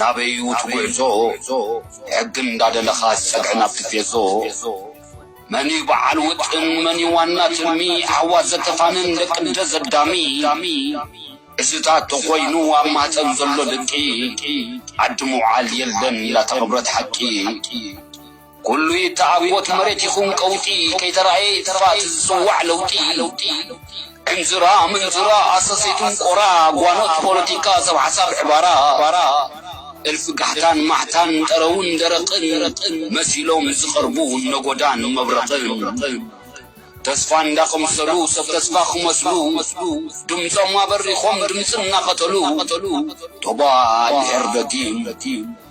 ናበይ'ዩ እቲ ጉዕዞ ሕጊ እንዳደለኻስ ጸግዒ ናብ ቲፌዞ መን'ዩ በዓል ውጥን መን'ዩ ዋና ትልሚ ኣሕዋት ዘተፋንን ደቅ'ደ ዘዳሚ እዚታት ተኾይኑ ኣብ ማህጸን ዘሎ ድቂ ዓዲ ምውዓል የለን ላተቐብረት ሓቂ ኩሉ ይተዓብኦ እቲ መሬት ይኹን ቀውጢ ከይተራእየ ይጥፋእ እቲ ዝጽዋዕ ለውጢ ዕንዝራ ምንዝራ ኣሰሰይቱን ቆራ ጓኖት ፖለቲካ ሰብ ሓሳብ ዕባራ እልፊ ጋሕታን ማሕታን ጠረውን ደረቕን መሲሎም ዝቐርቡ ነጎዳን መብረቕን ተስፋ እንዳቐምሰሉ ሰብ ተስፋ ክመስሉ ድምጾም ኣበሪኾም ድምጺ እናቐተሉ ቶባእ ድሕር ደጊም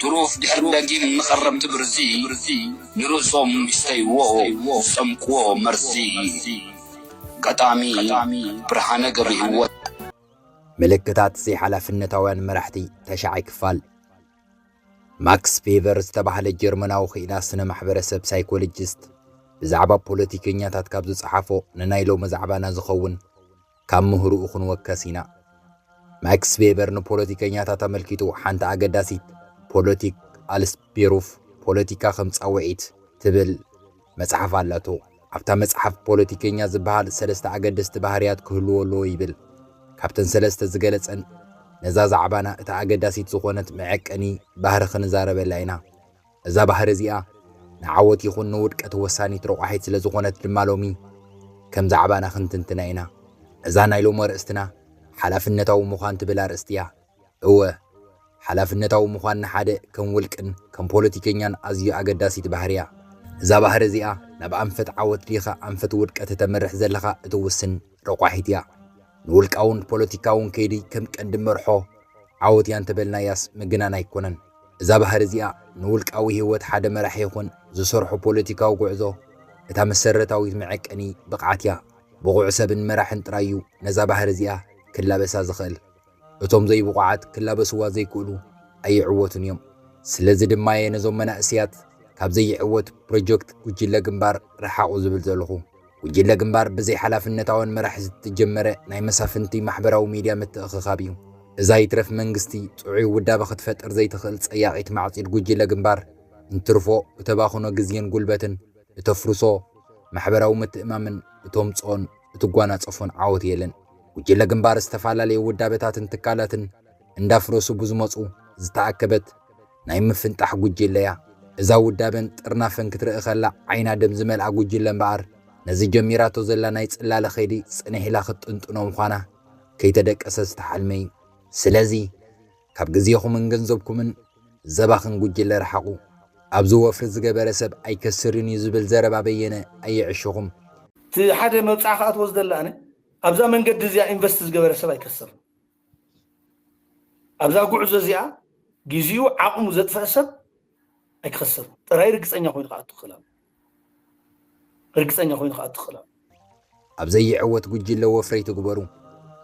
ትሩፍ ድሕሪ ደጊም መኸረምቲ ብርዚ ንርእሶም ይስተይዎ ዝጸምቅዎ መርዚ ገጣሚ ብርሃነ ገብርሂወት። ምልክታት ዘይሓላፍነታውያን መራሕቲ፣ ተሻዓይ ክፋል። ማክስ ፌቨር ዝተባህለ ጀርመናዊ ክኢላ ስነ ማሕበረሰብ ሳይኮሎጂስት ብዛዕባ ፖለቲከኛታት ካብ ዝጸሓፎ ንናይ ሎሚ ዛዕባና ዝኸውን ካብ ምህርኡ ክንወከስ ኢና። ማክስ ቬበር ንፖለቲከኛታት ኣመልኪቱ ሓንቲ ኣገዳሲት ፖለቲክ ኣልስ ቤሩፍ፣ ፖለቲካ ከም ጻውዒት፣ ትብል መጽሓፍ ኣላቶ። ኣብታ መጽሓፍ ፖለቲከኛ ዝበሃል ሰለስተ ኣገደስቲ ባህርያት ክህልዎ ኣለዎ ይብል። ካብተን ሰለስተ ዝገለጸን ነዛ ዛዕባና እታ ኣገዳሲት ዝኾነት መዐቀኒ ባህሪ ክንዛረበላ ኢና። እዛ ባህሪ እዚኣ ንዓወት ይኹን ንውድቀት ወሳኒት ረቋሒት ስለ ዝኾነት ድማ ሎሚ ከም ዛዕባና ክንትንትና ኢና። እዛ ናይ ሎሚ ኣርእስትና ሓላፍነታዊ ምዃን ትብል ኣርእስቲ እያ። እወ ሓላፍነታዊ ምዃን ንሓደ ከም ውልቅን ከም ፖለቲከኛን ኣዝዩ ኣገዳሲት ባህሪ እያ። እዛ ባህሪ እዚኣ ናብ ኣንፈት ዓወት ዲኻ ኣንፈት ውድቀት እተምርሕ ዘለኻ እትውስን፣ ረቋሒት እያ። ንውልቃውን ፖለቲካውን ከይዲ ከም ቀንዲ መርሖ ዓወት እያ እንተበልናያስ ምግናን ኣይኮነን። እዛ ባህሪ እዚኣ ንውልቃዊ ህይወት ሓደ መራሒ ይኹን ዝሰርሖ ፖለቲካዊ ጉዕዞ እታ መሰረታዊት መዐቀኒ ብቕዓት እያ። ብቑዕ ሰብን መራሕን ጥራይ እዩ ነዛ ባህሪ እዚኣ ክላበሳ ዝኽእል። እቶም ዘይብቑዓት ክላበስዋ ዘይክእሉ ኣይዕወቱን እዮም። ስለዚ ድማየ ነዞም መናእስያት ካብ ዘይዕወት ፕሮጀክት ጉጅለ ግንባር ርሓቑ ዝብል ዘለኹ። ጉጅለ ግንባር ብዘይ ሓላፍነታውያን መራሕቲ ዝተጀመረ ናይ መሳፍንቲ ማሕበራዊ ሚድያ ምትእኽኻብ እዩ። እዛ ይትረፍ መንግስቲ ጥዑይ ውዳበ ክትፈጥር ዘይትኽእል ጸያቒት ማዕጺድ ጉጅለ ግንባር እንትርፎ እተባኽኖ ግዜን ጉልበትን እተፍርሶ ማሕበራዊ ምትእማምን እተምጽኦን እትጓናጸፎን ዓወት የለን። ጉጅለ ግንባር ዝተፈላለየ ውዳበታትን ትካላትን እንዳፍረሱ ብዝመጹ ዝተኣከበት ናይ ምፍንጣሕ ጉጅለ'ያ። እዛ ውዳበን ጥርናፈን ክትርኢ ከላ ዓይና ደም ዝመልኣ ጉጅለ እምበኣር ነዚ ጀሚራቶ ዘላ ናይ ጽላለ ከይዲ ጽንሕ ኢላ ክትጥንጥኖ ምዃና ከይተደቀሰ ዝተሓልመ'ዩ። ስለዚ። ካብ ግዜኹምን ገንዘብኩምን ዘባኽን ጉጅለ ርሓቑ። ኣብዚ ወፍሪ ዝገበረ ሰብ ኣይከስርን እዩ ዝብል ዘረባ በየነ ኣየዕሽኹም። እቲ ሓደ መብጽዓ ክኣትዎ ዝደሊ ኣነ ኣብዛ መንገዲ እዚኣ ኢንቨስት ዝገበረ ሰብ ኣይከስርን። ኣብዛ ጉዕዞ እዚኣ ግዜኡ ዓቕሙ ዘጥፈኣ ሰብ ኣይክኸስርን ጥራይ ርግጸኛ ኮይኑ ክኣቱ ክኽእል ኣለዎ። ርግፀኛ ኮይኑ ክኣ ትኽእላ። ኣብ ዘይዕወት ጉጅለ ወፍሪ ኣይትግበሩ።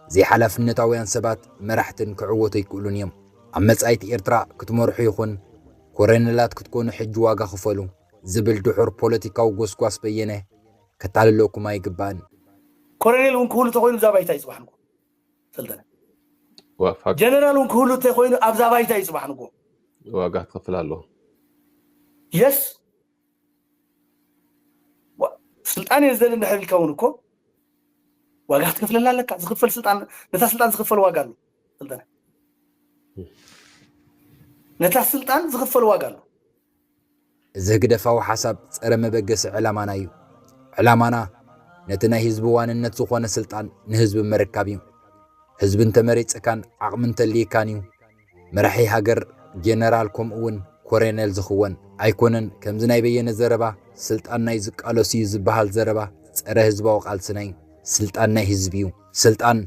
ዘይሓላፍነታውያን ሰባት መራሕትን ክዕወቱ ኣይክእሉን እዮም። ኣብ መጻኢት ኤርትራ ክትመርሑ ይኹን ኮረነላት ክትኮኑ ሕጂ ዋጋ ክፈሉ ዝብል ድሑር ፖለቲካዊ ጎስጓስ በየነ ከታልለኩም ኣይግባእን። ኮረኔል ውን ክህሉ ተኾይኑ እዛ ባይታ እዩ ጽባሕ ንግሆ ሰልጠነ። ጀነራል ውን ክህሉ ተኾይኑ ኣብዛ ባይታ እዩ ጽባሕ ንግሆ ዋጋ ክኸፍል ኣለዎ። የስ ስልጣን እየ ዝደሊ እንድሕር ኢልካ እውን እኮ ዋጋ ክትከፍለላ ኣለካ ዝኽፈል ስልጣን ነታ ስልጣን ዝኽፈል ዋጋ ኣሎ ስልጠነ ነታ ስልጣን ዝኽፈል ዋጋ ኣሎ እዚ ህግደፋዊ ሓሳብ ፀረ መበገሲ ዕላማና እዩ ዕላማና ነቲ ናይ ህዝቢ ዋንነት ዝኾነ ስልጣን ንህዝቢ ምርካብ እዩ ህዝቢ እንተመሪፅካን ዓቕሚ እንተልይካን እዩ መራሒ ሃገር ጀነራል ከምኡ ውን ኮረኔል ዝኽወን ኣይኮነን ከምዚ ናይ በየነ ዘረባ ስልጣን ናይ ዝቃለሱ ዩ ዝብሃል ዘረባ ጸረ ህዝባዊ ቃልሲ ናይ ስልጣን ናይ ህዝቢ ዩ ስልጣን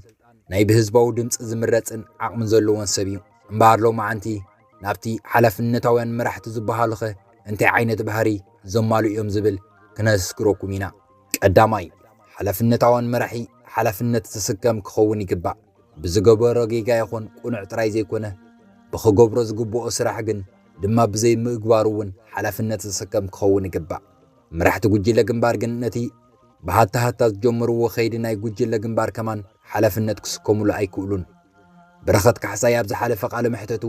ናይ ብህዝባዊ ድምጺ ዝምረጽን ዓቕሚ ዘለዎን ሰብ ዩ እምበኣር ሎምዓንቲ ናብቲ ሓላፍነታውያን መራሕቲ ዝብሃሉኸ እንታይ ዓይነት ባህሪ ዘማልኡ ዮም ዝብል ክነስግረኩም ኢና ቀዳማይ ሓላፍነታዋን መራሒ ሓላፍነት ዝስከም ክኸውን ይግባእ ብዝገበሮ ጌጋ ይኹን ቁኑዕ ጥራይ ዘይኮነ ብክገብሮ ዝግብኦ ስራሕ ግን ድማ ብዘይ ምግባሩ እውን ሓላፍነት ዝስከም ክኸውን ይግባእ። መራሕቲ ጉጅለ ግንባር ግን ነቲ ብሃታ ሃታ ዝጀመርዎ ከይዲ ናይ ጉጅለ ግንባር ከማን ሓላፍነት ክስከሙሉ ኣይክእሉን። በረኸት ካሕሳይ ኣብ ዝሓለፈ ቃለ መሕተቱ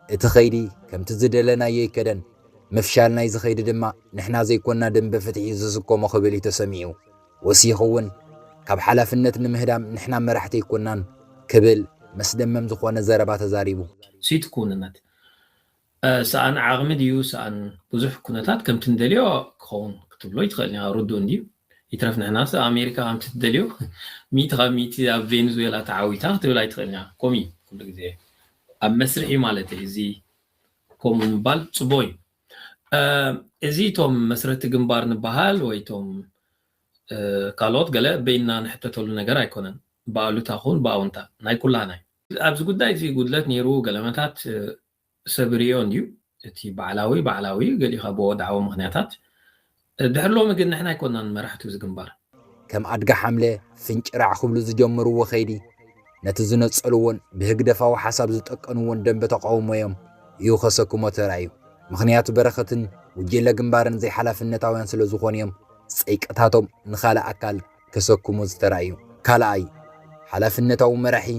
እቲ ከይዲ ከምቲ ዝደለናዮ ኣይከደን፣ ምፍሻል ናይዚ ከይዲ ድማ ንሕና ዘይኮና ደምበ ፍትሒ ዝስከሞ ክብል እዩ ተሰሚዑ። ወሲኹ እውን ካብ ሓላፍነት ንምህዳም ንሕና መራሕቲ ኣይኮናን ክብል መስደመም ዝኾነ ዘረባ ተዛሪቡ። ሲቲ ክውንነት ሰኣን ዓቕሚ ድዩ ሰኣን ብዙሕ ኩነታት ከምቲ ንደልዮ ክኸውን ክትብሎ ኣይትኽእልን ኢኻ ርዱእ እንድዩ። ይትረፍ ንሕናስ ኣሜሪካ ከምቲ ትደልዮ ሚእቲ ካብ ሚእቲ ኣብ ቬንዙዌላ ተዓዊታ ክትብል ኣይትኽእልን ኢኻ። ከምኡ እዩ ኩሉ ግዜ ኣብ መስርሕ እዩ ማለተይ እዚ ከምኡ ምባል ጽቡቕ እዩ። እዚ እቶም መስረቲ ግንባር ንበሃል ወይ እቶም ካልኦት ገለ በይንና ንሕተተሉ ነገር ኣይኮነን። ብኣሉታ ኹን ብኣውንታ ናይ ኩላህና እዩ። ኣብዚ ጉዳይ እዚ ጉድለት ነይሩ ገለመታት ሰብ ይርእዮ እንድዩ። እቲ ባዕላዊ ባዕላዊ ገሊኻ ብወድዓዊ ምኽንያታት ድሕሪ ሎሚ ግን ንሕና ኣይኮናን መራሕቱ እዚ ግንባር። ከም ኣድጊ ሓምለ ፍንጭራዕ ክብሉ ዝጀመርዎ ከይዲ፣ ነቲ ዝነጸልዎን ብህግደፋዊ ሓሳብ ዝጠቀንዎን ደንበ ተቓውሞ'ዮም እዩ ከሰክሞ ተራእዩ። ምኽንያቱ በረኸትን ጉጅለ ግንባርን ዘይሓላፍነታውያን ስለ ዝኾኑ'ዮም ጸይቅታቶም ንኻልእ ኣካል ከሰክሙ ዝተራእዩ። ካልኣይ፣ ሓላፍነታዊ መራሒ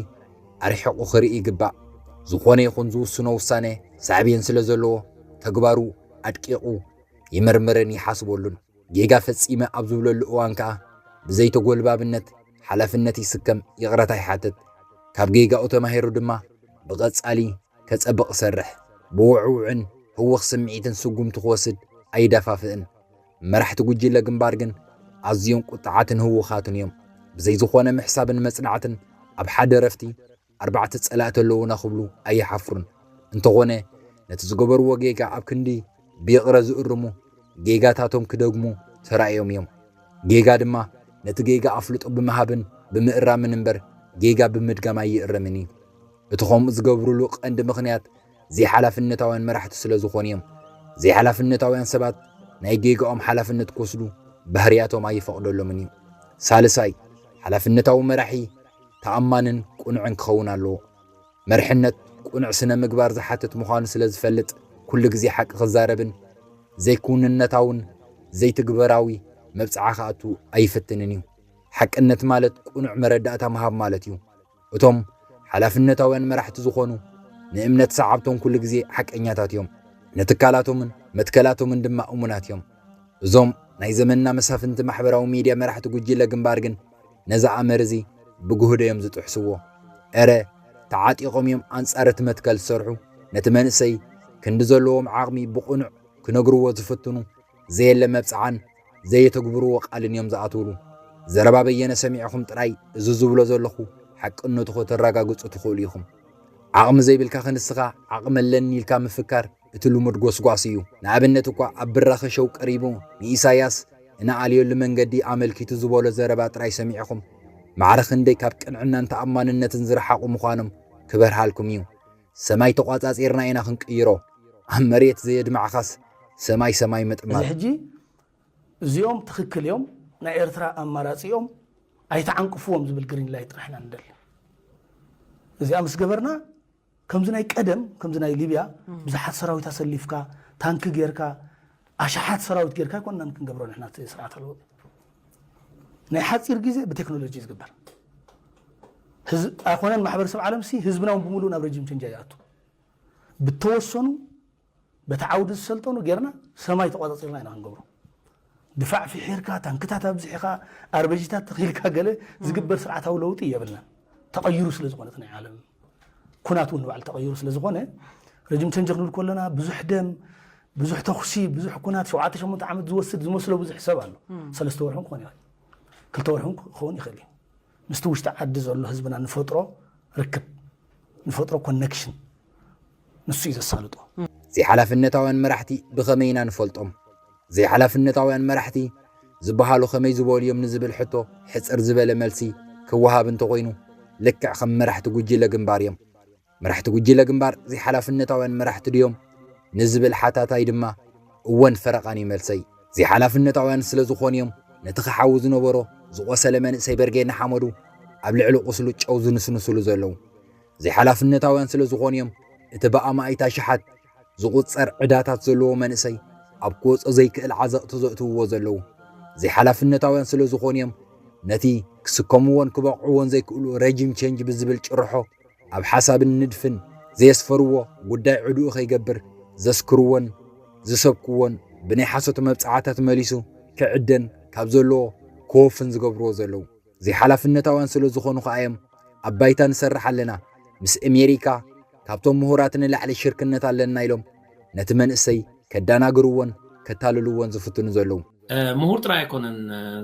ኣርሒቑ ክርኢ ይግባእ። ዝኾነ ይኹን ዝውስኖ ውሳነ ሳዕቤን ስለ ዘለዎ፣ ተግባሩ ኣድቂቑ፣ ይምርምርን ይሓስበሉን። ጌጋ ፈጺመ ኣብ ዝብለሉ እዋን ከኣ ብዘይተጎልባብነት ሓላፍነት ይስከም፣ ይቕረታ ይሓትት። ካብ ጌጋኡ ተማሂሩ ድማ ብቐጻሊ ከጸብቕ ይሰርሕ። ብውዕዉዕን ህውኽ ስምዒትን ስጉምቲ ክወስድ ኣይደፋፍእን። መራሕቲ ጉጅለ ግንባር ግን ኣዝዮም ቁጥዓትን ህውኻትን እዮም። ብዘይ ዝኾነ ምሕሳብን መጽናዕትን ኣብ ሓደ ረፍቲ ኣርባዕተ ጸላእቲ ኣለዉና ክብሉ ኣይሓፍሩን። እንተኾነ ነቲ ዝገበርዎ ጌጋ ኣብ ክንዲ ብይቕረ ዝእርሙ ጌጋታቶም ክደግሙ ተራእዮም እዮም። ጌጋ ድማ ነቲ ጌጋ ኣፍልጦ ብምሃብን ብምእራምን እምበር ጌጋ ብምድጋም ኣይእረምን እዩ። እቲ ከምኡ ዝገብርሉ ቀንዲ ምኽንያት ዘይሓላፍነታውያን መራሕቲ ስለ ዝኾኑ እዮም። ዘይሓላፍነታውያን ሰባት ናይ ጌጋኦም ሓላፍነት ክወስዱ ባህርያቶም ኣይፈቕደሎምን እዩ። ሳልሳይ፣ ሓላፍነታዊ መራሒ፣ ተኣማንን ቅኑዕን ክኸውን ኣለዎ። መርሕነት ቅኑዕ ስነ ምግባር ዝሓትት ምዃኑ ስለ ዝፈልጥ ኩሉ ግዜ ሓቂ ክዛረብን ዘይክውንነታውን ዘይትግበራዊ መብጽዓ ክኣቱ ኣይፍትንን እዩ። ሓቅነት ማለት ቅኑዕ መረዳእታ ምሃብ ማለት እዩ። እቶም ሓላፍነታውያን መራሕቲ ዝኾኑ ንእምነት ሰዓብቶም ኩሉ ግዜ ሓቀኛታት እዮም። ንትካላቶምን መትከላቶምን ድማ እሙናት እዮም። እዞም ናይ ዘመንና መሳፍንቲ ማሕበራዊ ሚድያ መራሕቲ ጉጅለ ግንባር ግን ነዚ ኣምር እዚ ብግህዶ እዮም ዝጥሕስዎ። እረ ተዓጢቖም እዮም ኣንጻር እቲ መትከል ዝሰርሑ፣ ነቲ መንእሰይ ክንዲ ዘለዎም ዓቕሚ ብቕኑዕ ክነግርዎ ዝፍትኑ፣ ዘየለ መብጽዓን ዘየተግብርዎ ቃልን እዮም ዝኣትውሉ። ዘረባ በየነ ሰሚዕኹም ጥራይ እዚ ዝብሎ ዘለኹ ሓቅነቱ ከተራጋግጹ ትኽእሉ ኢኹም። ዓቕሚ ዘይብልካ ክንስኻ ዓቕሚ ኣለኒ ኢልካ ምፍካር እቲ ልሙድ ጎስጓስ እዩ። ንኣብነት እኳ ኣብ ብራኸ ሸው ቀሪቡ ንኢሳያስ እንኣልየሉ መንገዲ ኣመልኪቱ ዝበሎ ዘረባ ጥራይ ሰሚዕኹም ማዕረ ክንደይ ካብ ቅንዕናን ተኣማንነትን ዝረሓቑ ምዃኖም ክበርሃልኩም እዩ። ሰማይ ተቋጻጺርና ኢና ክንቅይሮ ኣብ መሬት ዘየድማዕኻስ ሰማይ ሰማይ እዚ ምጥማት። ሕጂ እዚኦም ትኽክል እዮም ናይ ኤርትራ ኣማራጺኦም ኣይትዓንቅፍዎም ዝብል ግሪን ላይት ጥራሕ ኢና ንደሊ። እዚኣ ምስ ገበርና ከምዚ ናይ ቀደም ከምዚ ናይ ሊብያ ብዙሓት ሰራዊት ኣሰሊፍካ ታንኪ ጌርካ ኣሽሓት ሰራዊት ጌርካ ኣይኮንናን ክንገብሮ ንሕና እቲ ስርዓተ ለውጢ ናይ ሓፂር ግዜ ብቴክኖሎጂ ዝግበር ኣይኮነን ማሕበረሰብ ዓለም ሲ ህዝብና እውን ብምሉእ ናብ ረጂም ቸንጃ ይኣቱ ብተወሰኑ በቲ ዓውዲ ዝሰልጠኑ ጌርና ሰማይ ተቖጻጺርና ኢና ክንገብሮ። ድፋዕ ፍሒርካ፣ ታንክታት ኣብዚሕኻ፣ ኣርበጂታት ተኺልካ ገለ ዝግበር ስርዓታዊ ለውጢ የብልናን። ተቐይሩ ስለ ዝኾነ እቲ ናይ ዓለም ኩናት እውን ንባዕሉ ተቐይሩ ስለ ዝኾነ ረጅም ቸንጅ ክንብል ከሎና ብዙሕ ደም ብዙሕ ተኹሲ ብዙሕ ኩናት ሸውዓተ ሸሞንተ ዓመት ዝወስድ ዝመስሎ ብዙሕ ሰብ ኣሎ። ሰለስተ ወርሒ ክኾን ይኽእል ክልተ ወርሒ ክኸውን ይኽእል እዩ። ምስቲ ውሽጢ ዓዲ ዘሎ ህዝብና ንፈጥሮ ርክብ ንፈጥሮ ኮኔክሽን ንሱ እዩ ዘሳልጦ። ዘይሓላፍነታውያን መራሕቲ ብኸመይ ኢና ንፈልጦም? ዘይሓላፍነታውያን መራሕቲ ዝበሃሉ ከመይ ዝበሉ እዮም ንዝብል ሕቶ ሕጽር ዝበለ መልሲ ክወሃብ እንተኾይኑ፣ ልክዕ ከም መራሕቲ ጉጅለ ግንባር እዮም። መራሕቲ ጉጅለ ግንባር ዘይሓላፍነታውያን መራሕቲ ድዮም? ንዝብል ሓታታይ ድማ እወን ፈረቓን እዩ መልሰይ። ዘይሓላፍነታውያን ስለ ዝኾኑ እዮም ነቲ ክሓዊ ዝነበሮ ዝቖሰለ መንእሰይ በርጌድ ንሓመዱ ኣብ ልዕሊ ቁስሉ ጨው ዝንስንስሉ ዘለዉ። ዘይሓላፍነታውያን ስለዝኾኑ እዮም እቲ ብኣማኢት ኣሽሓት ዝቑጸር ዕዳታት ዘለዎ መንእሰይ ኣብ ክወጾ ዘይክእል ዓዘቕቲ ዘእትውዎ ዘለዉ። ዘይሓላፍነታውያን ስለዝኾኑ እዮም ነቲ ክስከምዎን ክበቕዕዎን ዘይክእሉ ረጂም ቸንጅ ብዝብል ጭርሖ ኣብ ሓሳብን ንድፍን ዘየስፈርዎ፣ ጉዳይ ዕድኡ ከይገብር ዘስክርዎን ዝሰብክዎን ብናይ ሓሶት መብጽዓታት መሊሱ ክዕደን ካብ ዘለዎ ክወፍን ዝገብርዎ ዘለዉ። ዘይሓላፍነታውያን ስለዝኾኑ ከኣ እዮም ኣብ ባይታ ንሰርሕ ኣለና ምስ እሜሪካ ካብቶም ምሁራት ንላዕሊ ሽርክነት ኣለና ኢሎም ነቲ መንእሰይ ከዳናግርዎን ከታልልዎን ዝፍትኑ ዘለዉ። ምሁር ጥራይ ኣይኮነን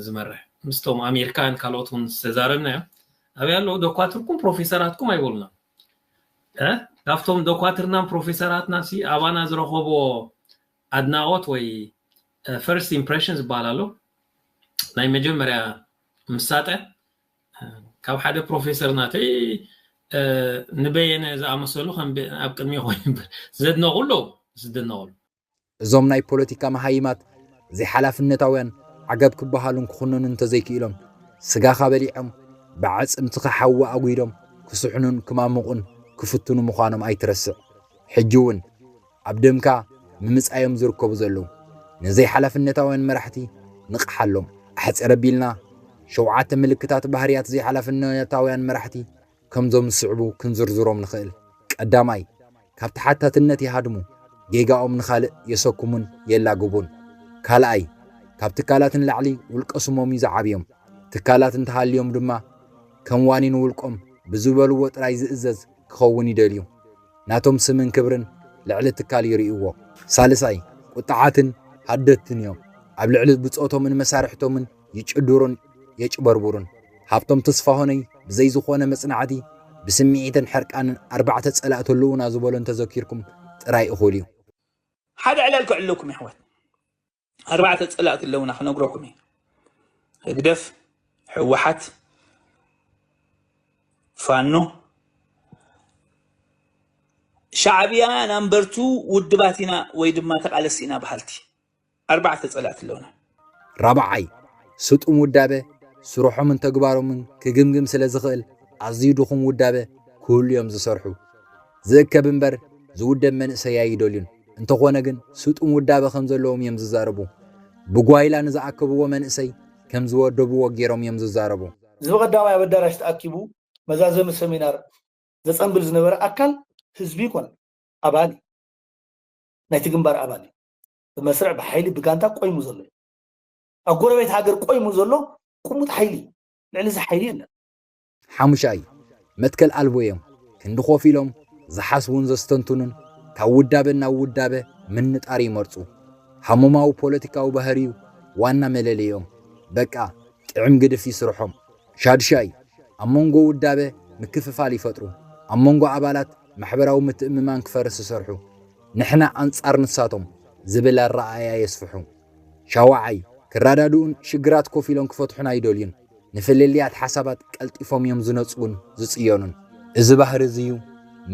ዝመርሕ ምስቶም ኣሜሪካውያን ካልኦት ውን ዝተዛረብናዮም ኣበይ ኣለዉ ዶኳትርኩም ፕሮፌሰራትኩም ኣይበሉናን እ ካብቶም ዶኳትርናን ፕሮፌሰራትናሲ ኣባና ዝረኸብዎ ኣድናቖት ወይ ፈርስት ኢምፕረሽን ዝበሃል ኣሎ ናይ መጀመርያ ምሳጠ ካብ ሓደ ፕሮፌሰር ናተይ ንበየነ ዝኣመሰሉ ከም ኣብ ቅድሚ ኮይኑ ዘድነቑ ኣለዉ ዝድነቑሉ እዞም ናይ ፖለቲካ መሃይማት ዘይሓላፍነታውያን ዓገብ ክበሃሉን ክኹነኑን እንተዘይክኢሎም ስጋኻ በሊዖም ብዓፅምትኻ ሓዊ ኣጒዶም ክስሕኑን ክማሙቑን ክፍትኑ ምዃኖም ኣይትረስዕ ሕጂ እውን ኣብ ደምካ ምምጻዮም ዝርከቡ ዘለዉ ነዘይ ሓላፍነታውያን መራሕቲ ንቕሓሎም። ኣሕጽር ኣቢልና ሸውዓተ ምልክታት ባህርያት ዘይሓላፍነታውያን መራሕቲ ከምዞም ዝስዕቡ ክንዝርዝሮም ንኽእል። ቀዳማይ፣ ካብ ተሓታትነት ይሃድሙ፣ ጌጋኦም ንኻልእ የሰኩሙን የላግቡን። ካልኣይ፣ ካብ ትካላት ንላዕሊ ውልቀ ስሞም እዩ ዝዓብዮም። ትካላት እንተሃልዮም ድማ ከም ዋኒን ውልቆም ብዝበልዎ ጥራይ ዝእዘዝ ክኸውን ይደልዩ። ናቶም ስምን ክብርን ልዕሊ ትካል ይርእይዎ። ሳልሳይ፣ ቁጥዓትን ሃደድትን እዮም። ኣብ ልዕሊ ብጾቶምን መሳርሕቶምን ይጭድሩን የጭበርብሩን። ሃብቶም ተስፋሁነይ ብዘይ ዝኾነ መጽናዕቲ ብስምዒትን ሕርቃንን ኣርባዕተ ጸላእቲ ኣለዉና ዝበሎ እንተዘኪርኩም ጥራይ እኹል እዩ። ሓደ ዕላል ከዕልለኩም የሕዋት። ኣርባዕተ ፀላእቲ ኣለውና ክነግረኩም እዩ ህግደፍ ሕወሓት ፋኖ ሻዕብያ ናምበርቱ ውድባት ኢና ወይ ድማ ተቃለስቲ ኢና በሃልቲ ኣርባዕተ ፀላእቲ ኣለውና ራብዓይ ስጡም ውዳበ ስርሖምን ተግባሮምን ክግምግም ስለ ዝኽእል ኣዝዩ ድኹም ውዳበ ክህሉ እዮም ዝሰርሑ ዝእከብ እምበር ዝውደብ መንእሰይ ኣይደልዩን። እንተኾነ ግን ስጡም ውዳበ ከም ዘለዎም እዮም ዝዛረቡ። ብጓይላ ንዝኣከብዎ መንእሰይ ከም ዝወደብዎ ገይሮም እዮም ዝዛረቡ። እዚ ብቐዳማይ ኣብ ኣዳራሽ ተኣኪቡ መዛዘሚ ሰሚናር ዘጸንብል ዝነበረ ኣካል ህዝቢ ይኮን ኣባል እዩ። ናይቲ ግንባር ኣባል እዩ። ብመስርዕ፣ ብሓይሊ፣ ብጋንታ ቆይሙ ዘሎ እዩ። ኣብ ጎረቤት ሃገር ቆይሙ ዘሎ ቁሙጥ ሓይሊ እዩ። ልዕሊ እዚ ሓይሊ የለን። ሓሙሻይ፣ መትከል ኣልቦ እዮም። ክንዲ ኮፍ ኢሎም ዝሓስቡን ዘስተንትኑን ካብ ውዳበ ናብ ውዳበ ምንጣር ይመርጹ። ሃሞማዊ ፖለቲካዊ ባህሪ'ዩ ዋና መለለይኦም። በቃ ጥዕም ግድፍ'ዩ ስርሖም። ሻድሻይ፣ ኣብ መንጎ ውዳበ ምክፍፋል ይፈጥሩ። ኣብ መንጎ ኣባላት ማሕበራዊ ምትእምማን ክፈርስ ዝሰርሑ፣ ንሕና ኣንጻር ንሳቶም ዝብል ኣረኣእያ የስፍሑ። ሻውዓይ፣ ክረዳድኡን ሽግራት ኮፍ ኢሎም ክፈትሑን ኣይደልዩን። ንፍልልያት ሓሳባት ቀልጢፎም እዮም ዝነጽጉን ዝጽዮኑን። እዚ ባህሪ እዚ እዩ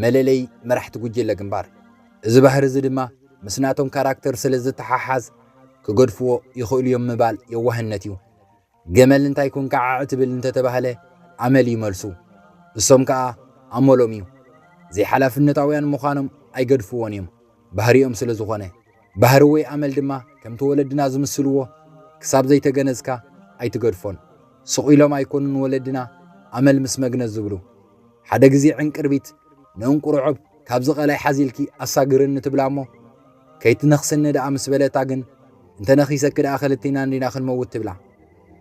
መለለይ መራሕቲ ጉጅለ ግንባር። እዚ ባህሪ እዚ ድማ ምስ ናቶም ካራክተር ስለ ዝተሓሓዝ ክገድፍዎ ይኽእሉ እዮም ምባል የዋህነት እዩ። ገመል እንታይ ኮንካ ዓዕ ትብል እንተ ተባህለ ኣመል እዩ መልሱ። እሶም ከኣ ኣመሎም እዩ። ዘይሓላፍነታውያን ምዃኖም ኣይገድፍዎን እዮም። ባህሪኦም ስለ ዝኾነ፣ ባህሪ ወይ ኣመል ድማ ከምቲ ወለድና ዝምስልዎ ክሳብ ዘይተገነዝካ ኣይትገድፎን። ስቕ ኢሎም ኣይኮኑን ወለድና ኣመል ምስ መግነዝ ዝብሉ። ሓደ ግዜ ዕንቅርቢት ንእንቁርዖብ ካብዚ ቀላይ ሓዚልኪ ኣሳግርኒ ትብላ እሞ ከይትነኽስኒ ደኣ ምስ በለታ ግን እንተ ነኺሰኪ ደኣ ክልቴና እንዲና ክንመውት ትብላ።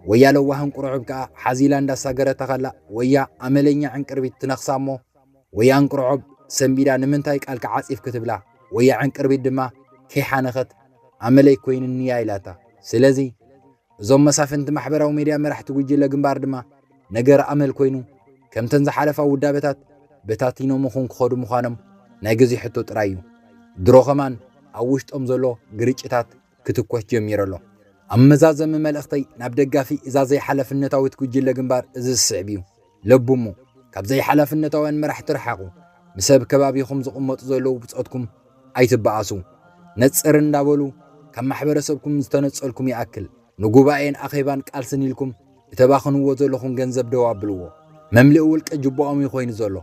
ወያ ለዋህ እንቁርዖብ ከኣ ሓዚላ እንዳሳገረታ ከላ ወያ ኣመለኛ ዕንቅርቢት ትነኽሳ እሞ ወይ ኣንቅርዖብ ሰንቢዳ ንምንታይ ቃልኪ ዓጺፍኪ ትብላ ወይ ኣዕንቅርቢት ድማ ከይሓነኸት ኣመለይ ኮይንኒያ ኢላታ ስለዚ እዞም መሳፍንቲ ማሕበራዊ ሜድያ መራሕቲ ጉጅለ ግንባር ድማ ነገር ኣመል ኮይኑ ከምተን ዝሓለፋ ውዳበታት በታቲኖምኹም ክኸዱ ምዃኖም ናይ ግዜ ሕቶ ጥራይ እዩ ድሮ ከማን ኣብ ውሽጦም ዘሎ ግርጭታት ክትኮስ ጀሚሩ ኣሎ። ኣብ መዛዘሚ መልእኽተይ ናብ ደጋፊ እዛ ዘይሓላፍነታዊት ጉጅለ ግንባር እዚ ዝስዕብ እዩ። ለብሙ፣ ካብ ዘይሓላፍነታውያን መራሕቲ ርሓቑ። ምስ ኣብ ከባቢኹም ዝቕመጡ ዘለዉ ብጾትኩም ኣይትበኣሱ። ነጽር እንዳበሉ ካብ ማሕበረሰብኩም ዝተነጸልኩም ይኣክል። ንጉባኤን ኣኼባን ቃልስን ኢልኩም እተባኽንዎ ዘለኹም ገንዘብ ደው ኣብልዎ። መምልኢ ውልቀ ጅቦኦም እዩ ኮይኑ ዘሎ።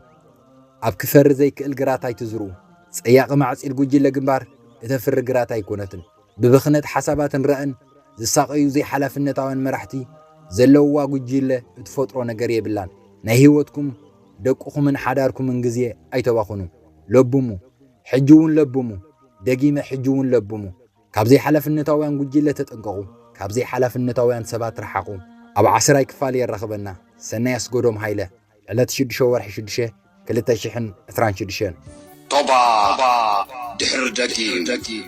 ኣብ ክፈሪ ዘይክእል ግራት ኣይትዝርኡ። ጸያቒ ማዕጺድ ጉጅለ ግንባር እተፍሪ ግራት ኣይኮነትን። ብብኽነት ሓሳባትን ራእን ዝሳቐዩ ዘይሓላፍነታውያን መራሕቲ ዘለውዋ ጉጅለ እትፈጥሮ ነገር የብላን። ናይ ህይወትኩም፣ ደቅኹምን ሓዳርኩምን ግዜ ኣይተባኽኑ። ለብሙ። ሕጂ'ውን ለብሙ። ደጊመ ሕጂ'ውን ለብሙ። ካብ ዘይሓላፍነታውያን ጉጂለ ተጠንቀቑ ካብ ዘይሓላፍነታውያን ሰባት ርሓቑ ኣብ ዓስራይ ክፋል የራኽበና ሰናይ ኣስጎዶም ሃይለ ዕለት ሽዱሸ ወርሒ ሽዱሸ ክልተ ሽሕን ዕስራን ሽዱሸን ቶባ ድሕሪ ደጊም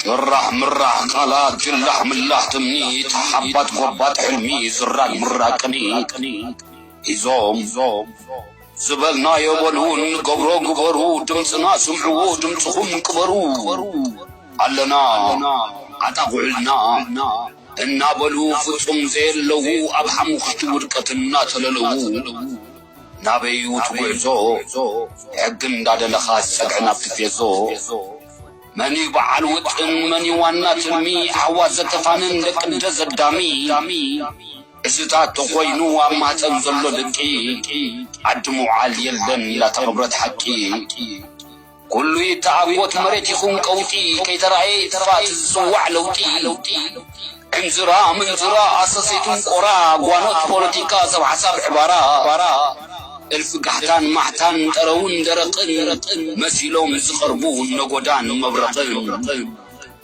ጭራሕ ምራሕ ቃላት ጅላሕ ምላሕ ትምኒት ሓባት ጎባጥ ሕልሚ ዝራግ ምራቅ ቅኒት ሒዞም ዝበልናዮ በሉ እንገብሮ ግበሩ ድምጽና ስምዕዎ ድምጽኹም ቅበሩ ኣለና ኣጣቕዑልና እናበሉ ፍጹም ዘየለዉ ኣብ ሓሙኽሽቲ ውድቀት እናተለለዉ ናበይ'ዩ እቲ ጉዕዞ ሕጊ እንዳደለኻስ ጸግዒ ናብቲ ፌዞ መን'ዩ በዓል ውጥን መን'ዩ ዋና ትልሚ ኣሕዋት ዘተፋንን ደቂ ደዘዳሚ እዚታት ተኾይኑ ኣብ ማህጸን ዘሎ ድቂ ዓዲ ምውዓል የለን ኢላ ተቐብረት ሓቂ ኩሉ ይተኣጎት መሬት ይኹን ቀውጢ ከይተራእየ ይጥፋእ እቲ ዝጽዋዕ ለውጢ ዕንዝራ ምንዝራ ኣሰሰይቱን ቆራ ጓኖት ፖለቲካ ሰብ ሓሳብ ዕባራ እልፊ ጋሕታን ማሕታን ጠረውን ደረቕን መሲሎም ዝቐርቡ ነጎዳን መብረቕን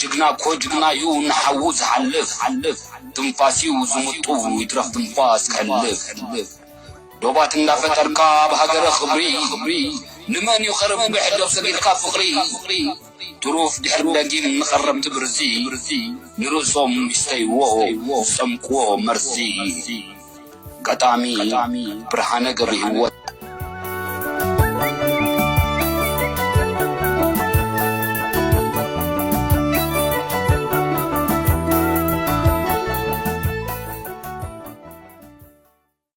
ጅግና እኮ ጅግና ዩ ንሓዉ ዝሓልፍ ትንፋስ ዩ ዝምጡ ይትረፍ ትንፋስ ክሕልፍ ዶባት እንዳፈጠርካ ኣብ ሃገረ ክብሪ ንመን ዩ ከርብሕ ዶብ ሰጊርካ ፍቅሪ ትሩፍ ድሕሪ ደጊም ንከረምቲ ብርዚ ንርእሶም ይስተይዎ ዝጠምቅዎ መርዚ ገጣሚ ብርሃነ ገብርሂወት።